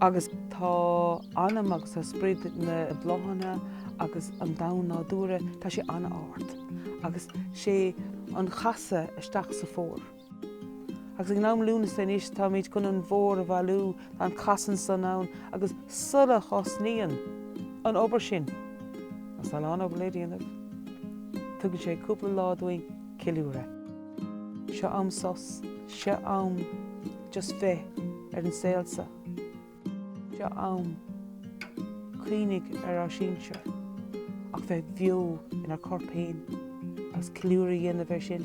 Agus tá anam agus tá sprid na bláthanna agus an domhan nádúrtha, tá sé an-ard. Agus sé an chasadh isteach sa Fómhar. Agus ag an am Lúnasa anois táimid chun an bhFómhar a bhailiú, tá an chasadh san ann agus sul a thosnaíonn an obair sin, agus tá a lán obair le déanamh, tugann sé cúpla lá dúinn ceiliúradh. Seo am sos, seo am. Just bheith ar an saol so. Tá am cuimhnigh ar ár sinsir ach bheith bheo inár corp féin agus ceiliúradh a dhéanamh air sin.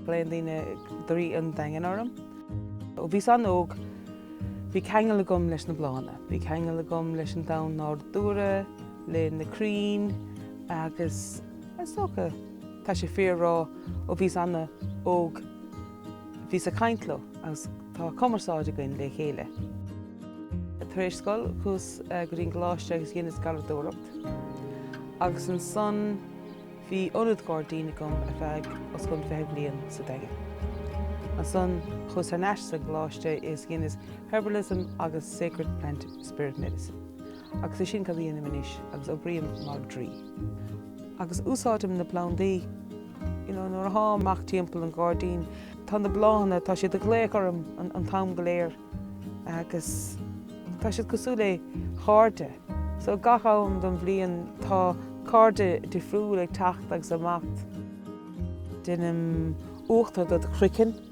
Glaonn daoine draoi an Daingin orm. Ó bhíos an-óg bhí ceangal agam leis na bláthanna. Bhí ceangal agam leis an domhan nádúrtha. le na crainn agus is dócha tá sé fíor a rá ó bhíos ana óg bhíos ag caint leo agus tá cumarsáid againn le chéile. Tar éis scoil chuas go dtí an gcoláiste agus dheineas garraíodóireacht agus ansan bhí ionad gairdín agam ar feadh os cionn fiche bliain sa Daingean. Ansan chuas thar n-ais sa gcoláiste is dheineas Herbalism agus Sacred Plant Spirit Medicine. Agus é sin cad a dhéanaim anois agus oibrím mar draoi agus úsáidim na plandaí nuair atháim amach timpeall an ghairdín tá na bláthanna tá siad ag glaoch orm an t-am go léir agus tá siad cosúil le chairde so gach am don bhliain tá cairde difriúil ag teacht agus imeacht. Deinim uachtar do do chroiceann.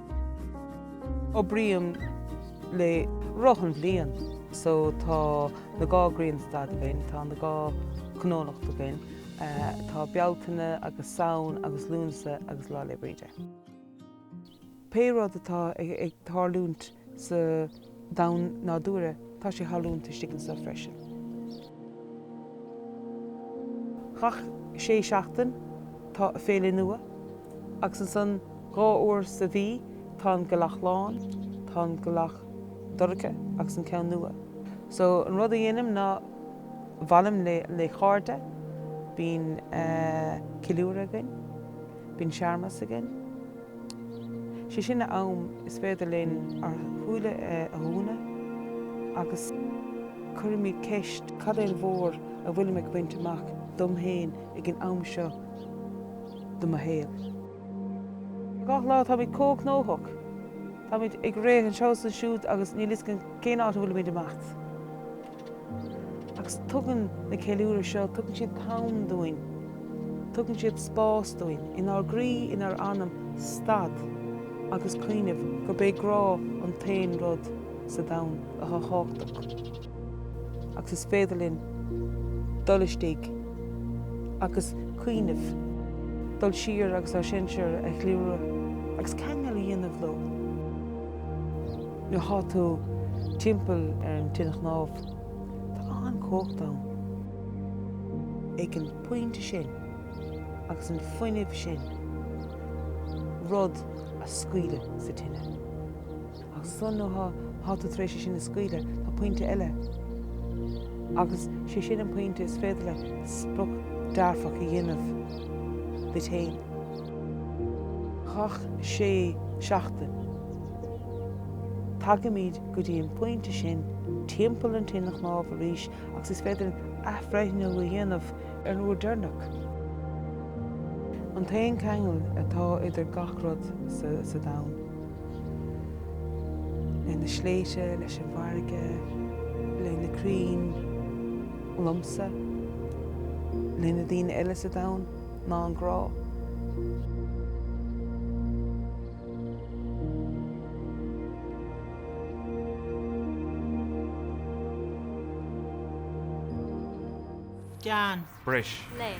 Oibrím le roth an bhliain so tá na dhá grianstad againn, tá na dhá cónocht againn, tá Bealtaine agus Samhain agus Lúnasa agus Lá 'le Bríde. Pé rud atá ag tarlúint sa. domhan nádúrtha, tá sé tarlúint istigh anso freisin. Gach sé seachtain tá féile nua agus ansan dhá uair sa mhí tá an gealach lán, tá an gealach dorcha agus an ceann nua. So an rud a dhéanaim ná bhailím le le chairde, bíonn eh ceiliúradh againn, bíonn searmas againn, Sé sin an am is féidir linn ár shúile a dhúnadh agus cuirimid ceist, cad é an bhfómhar a bhfuilim ag baint amach dom féin ag an am seo de mo shaol? Gach lá táimid comh gnóthach, táimid ag rith anseo is ansiúd agus níl fhios againn cén áit a bhfuilimid ag imeacht. Agus tugann na ceiliúradh seo, tugann siad an t-am dúinn, tugann siad spás dúinn, inár gcroí, inár anam, stad agus cuimhneamh gurb é grá an t-aon rud sa domhan atá thábhachtach. Agus is féidir linn dul istigh agus cuimhneamh, dul siar agus ár sinsear a cheiliúradh agus ceangal a dhéanamh leo. Nuair atá tú timpeall ar an tine chnámh, tá an-chumhacht ann. Ag an bpointe sin, agus an fuinneamh sin, rud a scaoileadh sa tine. Agus ansan nuair atá tú tar éis é sin a scaoileadh, tá pointe eile. Agus sé sin an pointe is féidir leat sprioc dearfach a dhéanamh duit fhéin. Chuile sé seachtain. Tagaimid go dtí an pointe sin timpeall an tine chnámh arís agus is féidir athbhreithniú a dhéanamh ar an uair deireanach. An t-aon cheangal atá idir gach rud sa domhan, le na sléibhte, leis an bhfarraige, le na crainn, liomsa, le na daoine eile sa domhan, ná an grá. Gan. Bris. Léim.